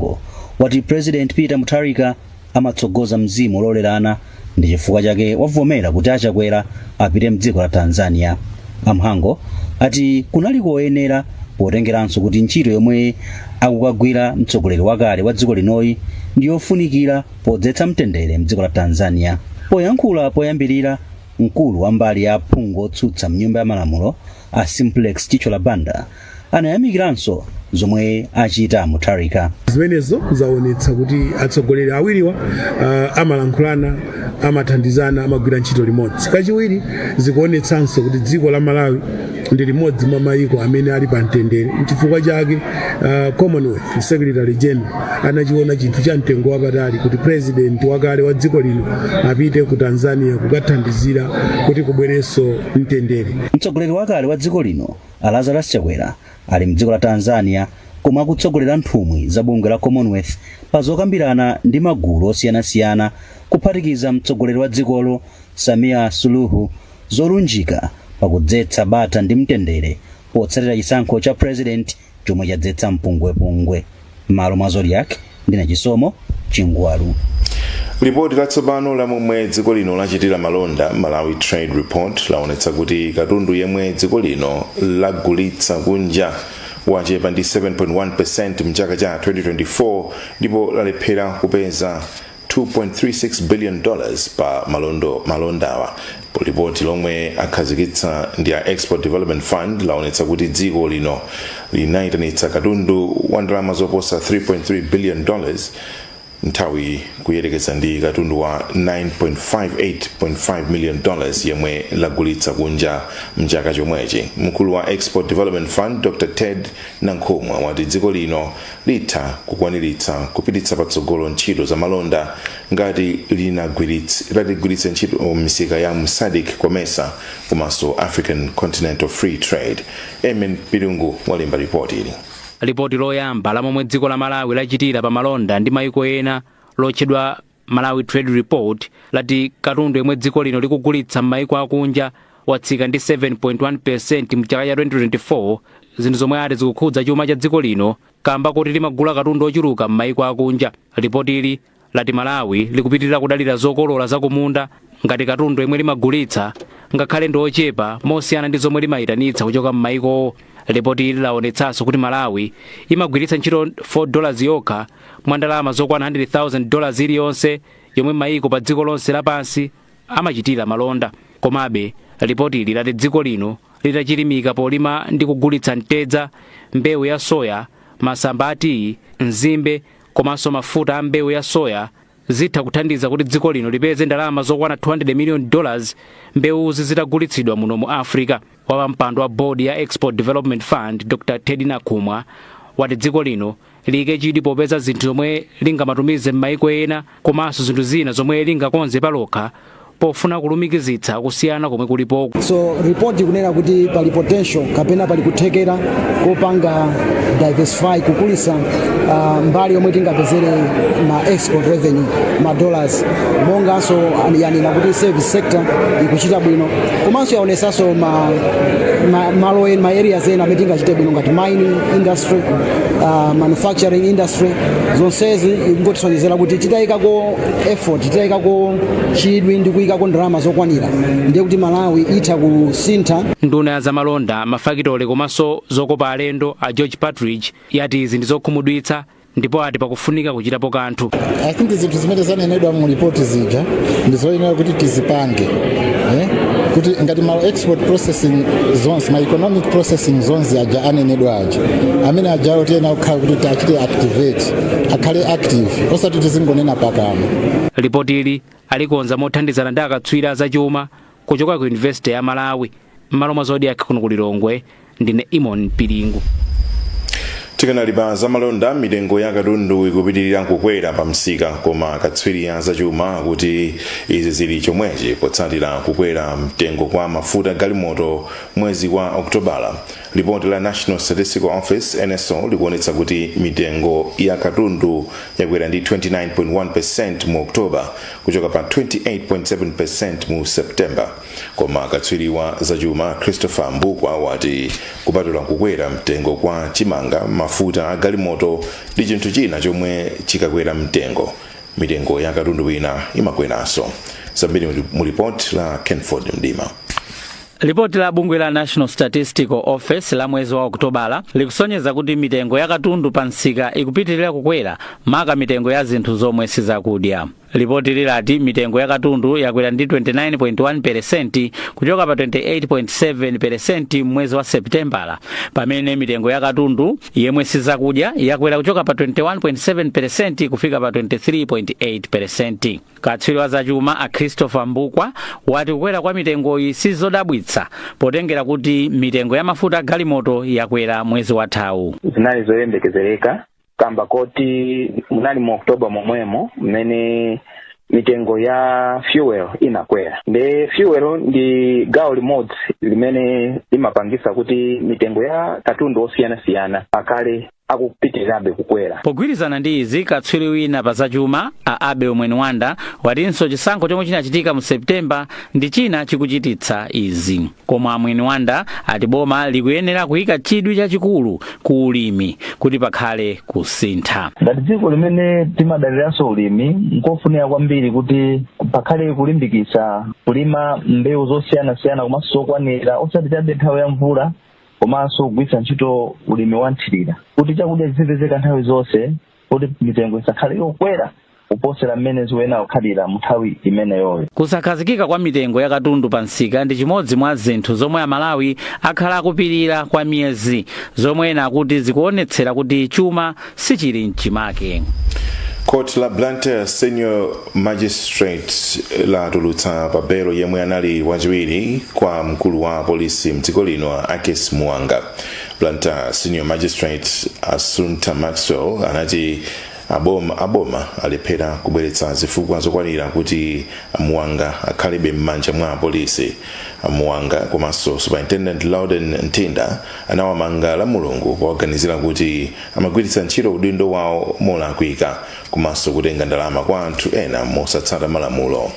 Mhango wati President Peter Mutharika amatsogoza mzimu ololerana ndi chifukwa chake wavomera kuti a Chakwera apite mdziko la Tanzania. A Mhango ati kunali koyenera potengeranso kuti ntchito yomwe akukagwira mtsogoleri wakale wa dziko linoyi ndi yofunikira podzetsa mtendere mdziko la Tanzania. Poyankhula poyambirira mkulu wa mbali ya aphungu otsutsa mnyumba ya malamulo a Simplex Chithyola Banda anayamikiranso zomwe achita mutharika zimenezo zaonetsa kuti atsogoleri awiriwa uh, amalankhulana amathandizana amagwira ntchito limodzi kachiwiri zikuonetsanso kuti dziko la malawi ndi limodzi mwa mayiko amene ali pa mtendere nchifukwa chake uh, commonwealth secretary general anachiona chinthu cha mtengo wapatali kuti president wakale wa dziko lino apite ku tanzania kukathandizira kuti kubwerenso mtendere mtsogoleri wakale wa dziko lino A Lazarus Chakwera ali mdziko la Tanzania komwe akutsogolera nthumwi za bungwe la Commonwealth pa zokambirana ndi magulu osiyanasiyana kuphatikiza mtsogoleri wa dzikolo Samia Suluhu zolunjika pakudzetsa bata ndi mtendere potsatira chisankho cha president chomwe chadzetsa mpungwepungwe. Mmalo mwa Zodiak ndine chisomo chingwalu lipoti latsopano la momwe dziko lino lachitira malonda malawi trade report laonetsa kuti katundu yemwe dziko lino lagulitsa kunja wachepa ndi 7.1 percent mchaka cha 2024 ndipo lalephera kupeza 2.36 billion dollars pa malondo malondawa Lipoti lomwe akhazikitsa ndi a Export Development Fund laonetsa kuti dziko lino linayitanitsa katundu wa ndalama zoposa 3.3 billion dollars nthawi kuyerekeza ndi katundu wa 9.58.5 million dollars yemwe lagulitsa kunja mchaka chomwechi. Mkulu wa Export Development Fund Dr Ted Nankhumwa wati dziko lino litha kukwaniritsa kupititsa patsogolo ntchito za malonda ngati linagwirits litagwiritsa ntchito misika ya mu sadc comesa komanso african continental free trade emin pilungu walemba ripoti ili lipoti loyamba la momwe dziko la malawi lachitira pa malonda ndi maiko ena lotchedwa malawi trade report lati katundu yemwe dziko lino likugulitsa m'maiko akunja watsika ndi 7.1 percent mu chaka cha 2024 zinthu zomwe ati zikukhudza chuma cha dziko lino kamba kuti limagula katundu ochuluka m'maiko akunja lipoti ili lati Malawi likupitilira kudalira zokolola zakumunda ngati katundu yemwe limagulitsa ngakhale ndi ochepa mosiyana ndi zomwe limayitanitsa kuchoka m'mayikowo. Lipoti ili lawonetsanso kuti Malawi imagwiritsa ntchito 4 dollars yokha mwa ndalama zokwana 100,000 dollars iliyonse yomwe mayiko pa dziko lonse lapansi amachitira malonda. Komabe, lipotili lati dziko lino litachilimika polima ndi kugulitsa mtedza, mbewu ya soya, masamba a tiyi, nzimbe, komanso mafuta a mbewu ya soya zitha kuthandiza kuti dziko lino lipeze ndalama zokwana 200 million dollars mbewuzi zitagulitsidwa muno mu africa wapampando wa board ya export development fund dr ted nakhumwa wati dziko lino liyike chidwi popeza zinthu zomwe lingamatumize m'maiko ena komanso zinthu zina zomwe lingakonze palokha pofuna kulumikizitsa kusiyana komwe kulipoku. So report ikunena kuti pali potential kapena pali kuthekera kopanga diversify kukulitsa uh, mbali yomwe tingapezere ma export revenue ma dollars monganso yanena kuti service sector ikuchita bwino komanso yaonesanso ma, ma, malo en- ma areas ena amene tingachite bwino ngati mining industry uh, manufacturing industry zonsezi ikungotisonyezera kuti titayikako effort titayikako chidwi ndi kuyikako ndalama zokwanira ndiye kuti malawi itha kusintha nduna ya zamalonda mafakitole komanso zokopa alendo a george partridge yati izi ndi zokhumudwitsa ndipo ati pakufunika kuchitapo kanthu i think zinthu zimene zanenedwa mu report zija ndi zoyenera kuti tizipange eh? kuti ngati ma export processing zones ma economic processing zones aja anenedwayo amene ajawo tiyenera kukhala kuti tiachite activate akhale active osati tizingonena pakamwa lipotili alikonza mothandizana ndi akatswiri azachuma kuchoka ku yunivesite ya malawi m'malo mwa zodiak kuno ku lilongwe ndine eamon piringu tikanali pa zamalonda mitengo ya katundu ikupitirira kukwera pa msika koma akatswiri a zachuma akuti izi zili chomwechi potsatira kukwera mtengo kwa mafuta a galimoto mwezi wa okutobala Lipoti la National Statistical Office NSO likuonetsa kuti mitengo ya katundu yakwera ndi 29.1% mu October kuchoka pa 28.7% mu September. Koma katswiri wa zachuma Christopher Mbukwa wati kupatula kukwera mtengo kwa chimanga, mafuta a galimoto ndi chinthu china chomwe chikakwera mtengo, mitengo ya katundu wina imakweranso. Zambiri mu lipoti la Kenford Mdima. Lipoti la bungwe la National Statistical Office la mwezi wa Okutobala likusonyeza kuti mitengo ya katundu pa msika ikupitirira kukwera maka mitengo ya zinthu zomwe sizakudya. Lipoti ili lati mitengo ya katundu yakwera ndi 29.1 peresenti kuchoka pa 28.7 peresenti m'mwezi wa Seputembala, pamene mitengo ya katundu yemwe sizakudya yakwera kuchoka pa 21.7 peresenti kufika pa 23.8 peresenti. Katswiri wa zachuma a Christopher Mbukwa wati kukwera kwa mitengoyi sizodabwitsa potengera kuti mitengo ya mafuta a galimoto yakwera mwezi wathawu. zinali zoyembekezereka kamba koti munali mu oktoba momwemo mmene mitengo ya fuel inakwera nde fuel ndi gawo limodzi limene limapangisa kuti mitengo ya katundu osiyanasiyana akhale akupitirirabe kukwera pogwirizana ndi izi katswiri wina pa zachuma a abel mwenwanda watinso chisankho chomwe chinachitika mu septemba ndi china chikuchititsa izi koma a mwenwanda ati boma likuyenera kuyika chidwi chachikulu ku ulimi kuti pakhale kusintha ngati dziko limene timadaliranso ulimi nkofunika kwambiri kuti pakhale kulimbikitsa kulima mbewu zosiyanasiyana komanso zokwanira osati chabe nthawi ya mvula komanso kugwiritsa ntchito ulimi wa mthirira kuti chakudya chizipezeka nthawi zonse kuti mitengo isakhale yokwera kuposera mmene zikuyenera kukhalira mnthawi imeneyoyo kusakhazikika kwa mitengo ya katundu pa msika ndi chimodzi mwa zinthu zomwe amalawi akhala akupirira kwa miyezi zomwe ena akuti zikuonetsera kuti chuma sichili mchimake Court la Blantyre Senior Magistrate latulutsa pa belo yemwe anali wachiwiri kwa mkulu wa apolisi mdziko lino a Akis Muwanga. Blantyre Senior Magistrate Assunta Maxwell anati aboma aboma alephera kubweretsa zifukwa zokwanira kuti Muwanga akhalebe m'manja mwa apolisi. Muwanga komanso Superintendent Louden Mthinda anawamanga lamulungu powaganizira kuti amagwiritsa ntchito udindo wawo molakwika komanso kutenga ndalama kwa anthu ena mosatsata malamulo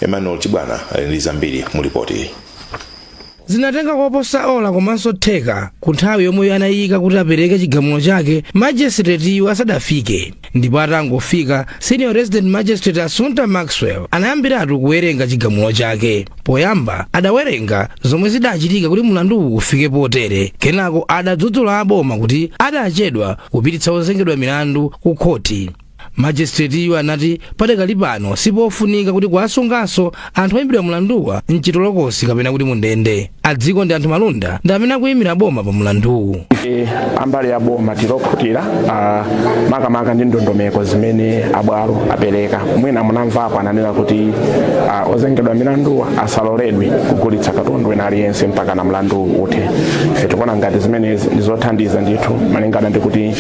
emmanuel chibwana ali ndi zambiri mu lipoti zinatenga koposa ola komanso theka ku nthawi yomwe anayika kuti apereke chigamulo chake majesitiretiyu asadafike ndipo atangofika senior resident magistrate assunta maxwell anayambiratu kuwerenga chigamulo chake poyamba adawerenga zomwe zidachitika kuti mlanduwu ufike potere kenako adadzudzula aboma kuti adachedwa kupititsa ozengedwa milandu ku khoti magistrate-yu anati padakali pano sipofunika kuti kuwasunganso anthu oyimbidwa mlanduwa mchitolokosi kapena kuti mundende a dzikondianthu malunda ndi amene akuyimira boma pa mlanduwu ife ambali ya boma tilokhutira ah, makamaka ndi ndondomeko zimene abwalo apereka mwina munamvapo ananena kuti ah, ozengedwa milanduwa asaloledwe kugulitsa katundu wina aliyense mpakana mlandu uthe ife tikuona ngati zimenezi ndi zothandiza ndithu malingana ndi kuti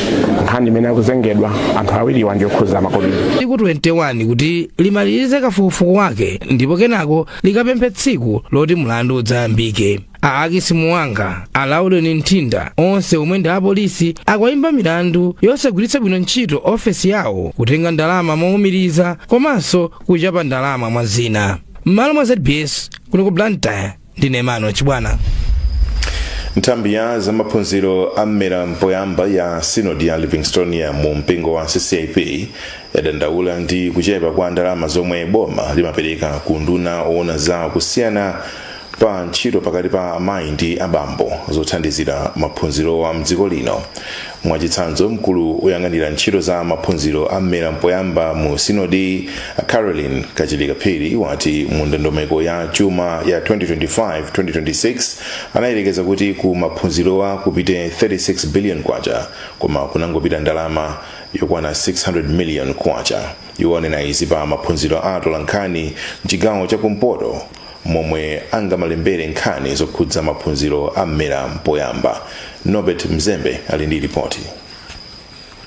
nkhani imene akuzengedwa anthu awiriwa ndiyokhuza makobiri tsiku 21 kuti limalize kafukufuku wake ndipo kenako likapemphe tsiku loti mlandu udzayambike a ackis muwanga a loudon mthinda onse omwe ndi apolisi akuwaimba milandu yosagwiritsa bwino ntchito ofesi yawo kutenga ndalama mowumiriza komanso kuchapa ndalama mwa zina m'malo mwa zbs kuno ku blantyre ndine emmanuel chibwana nthambi ya zamaphunziro a mmera mpoyamba ya synod ya livingstonia mu mpingo wa ccap yadandaula ndi kuchepa kwa ndalama zomwe boma limapereka ku unduna owona za kusiyana pa ntchito pakati pa amayi ndi abambo zothandizira maphunzirowa mdziko lino Mwachitsanzo, mkulu woyang'anira ntchito za maphunziro a mmera mpoyamba mu sinodiyi a Caroline Kachilika Phiri wati mu ndondomeko ya chuma ya 2025-2026 anayerekeza kuti ku maphunzirowa kupite 36 billion kwacha koma kunangopita ndalama yokwana 600 million kwacha. Iwo anena izi pa maphunziro a atolankhani mchigawo cha kumpoto momwe angamalembere nkhani zokhudza maphunziro a mmera mpoyamba nobert mzembe ali ndi lipoti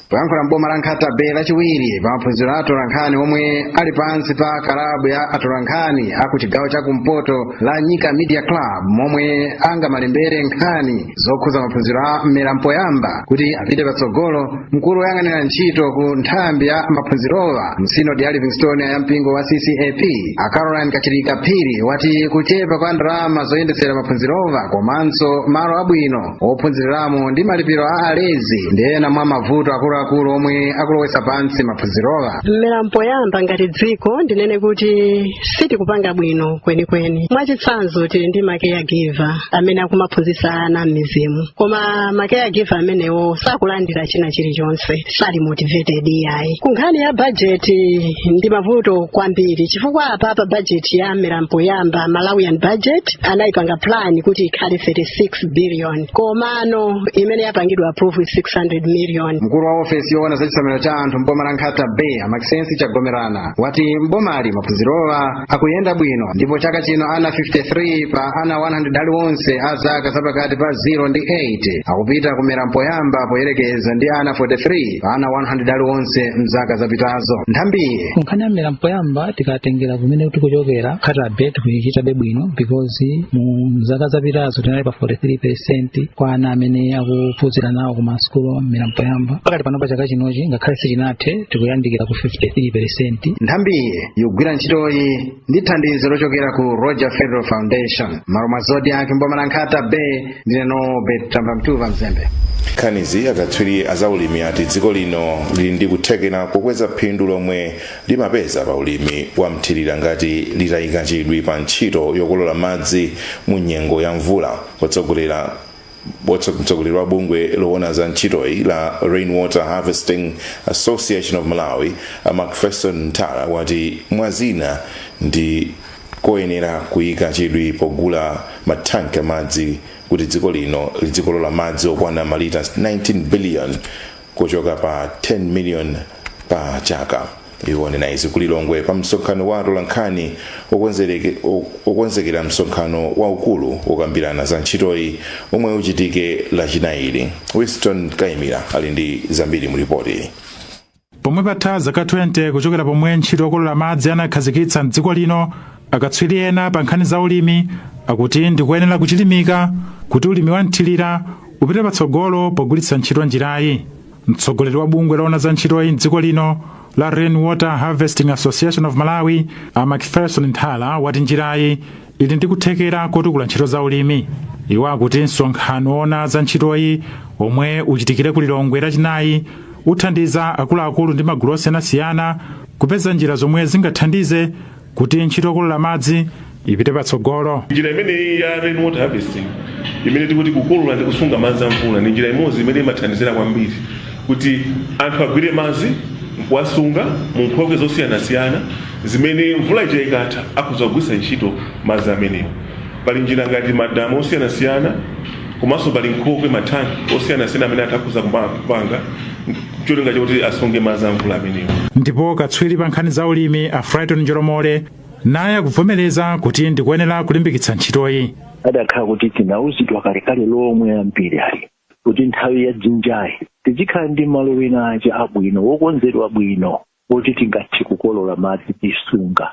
poyankhula m'boma la nkhata bay lachiwiri pa maphunziro a atolankhani omwe ali pansi pa kalabu ya atolankhani aku chigawo cha kumpoto la nyika media club momwe angamalembere nkhani zokhuza maphunziro a mmera mpoyamba kuti apite patsogolo mkulu woyang'anira ntchito ku nthambi ya maphunzirowa mu sinodi ya livingstonia ya mpingo wa ccap a caroline kachilika phiri wati kuchepa kwa ndalama zoyendetsera maphunzirowa komanso malo abwino ophunziriramo ndi malipiro a alezi ndi ena mwa mavuto akuluakulu omwe akulowetsa pansi maphunziro a mmera mpoyamba ngati dziko ndinene kuti sitikupanga bwino kwenikweni mwachitsanzo tili ndi ma caregiver amene akumaphunzitsa ana m'midzimu koma ma caregiver amenewo sakulandira china chilichonse sali motivated iyayi ku nkhani ya bajeti ndi mavuto kwambiri chifukwa apa pa bajeti ya mmera mpoyamba malawian budget anayipanga plan kuti ikhale 36 billion komano imene yapangidwa approve 600 million mkulu wa ofesi yoona za chisamaliro cha anthu mboma la nkhata bay a macsencie chagomerana wati mbomali maphunzirowa akuyenda bwino ndipo chaka chino ana 53 pa ana 100 aliwonse a zaka zapakati pa 0 ndi 8 akupita ku mmera mpoyamba poyerekeza ndi ana 43 pa ana 100 aliwonse mzaka zapitazo nthambiyi nkhani ya mmera mpoyamba tikatengera kumene tikuchokera nkhata bay tikuchita bwino because mu zaka zapitazo tinali pa 43 percent kwa ana amene akuphunzira nawo ku masukulu a mmera mpoyamba pakati pano pa chaka chinochi ngakhale sichinathe tikuyandikira ku 53 percent nthambiyi ikugwira ntchitoyi ndi thandizo lochokera ku roger federer foundation mmalo mwa zodiac mboma la nkhata bay ndine nobe tamba mtuva mzembe nkhaniyi akatswiri azaulimi ati dziko lino lili ndi kuthekera kokweza phindu lomwe limapeza pa ulimi wa mthirira ngati litayika chidwi pa ntchito yokolola madzi mu nyengo ya mvula otsogolera mtsogoleri wa bungwe lowona za ntchitoyi la rainwater harvesting association of malawi a macpherson nthala wati mwazina ndi koyenera kuyika chidwi pogula mathanki amadzi kuti dziko lino lidzikolola madzi okwana malita 19 billion kuchoka pa 10 million pa chaka iwo anena izi ku lilongwe pa msonkhano wa atolankhani okonzekera msonkhano waukulu wokambirana za ntchitoyi omwe uchitike lachinayi winston kaimira ali ndi zambiri mu lipoti pomwe patha zaka 20 kuchokera pomwe ntchito yokolola madzi anakhazikitsa mdziko lino Akatswiri ena pa nkhani za ulimi akuti ndikoyenera kuchilimika kuti ulimi wa mthirira upite patsogolo pogwiritsa ntchito njirayi. Mtsogoleri wa bungwe loona za ntchitoyi m'dziko lino la Rain Water Harvesting Association of Malawi, a Macpherson Nthala wati njirayi ili ndi kuthekera kotukula ntchito za ulimi. Iwo akuti msonkhano woona za ntchitoyi omwe uchitikire ku Lilongwe lachinayi uthandiza akuluakulu ndi magulu osiyanasiyana kupeza njira zomwe zingathandize kuti ntchito yokolola madzi ipite patsogolo njira imeneyi ya rain water harvesting imene tikuti kukolola ndi kusunga madzi a mvula ndi njira imodzi imene imathandizira kwambiri kuti anthu agwire madzi nkuwasunga mu nkhokwe zosiyanasiyana zimene mvula ija ikatha akhoza kugwiritsa ntchito madzi amenewo pali njira ngati madamu osiyanasiyana komanso pali nkhokwe matanki osiyanasiyana amene atha akhoza kupanga cholinga chakuti asunge madzi a mvula amenewo ndipo katswiri pa nkhani za ulimi a frighton njolomole naye akuvomereza kuti ndikuyenera kulimbikitsa ntchitoyi adakhala kuti tinauzidwa kalekale lomwe ambiri ali kuti nthawi ya dzinjayi tizikhala ndi malo ena ake abwino wokonzedwa bwino oti tingathe kukolola madzi tisunga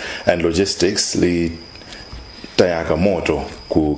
and logistics litayaka moto ku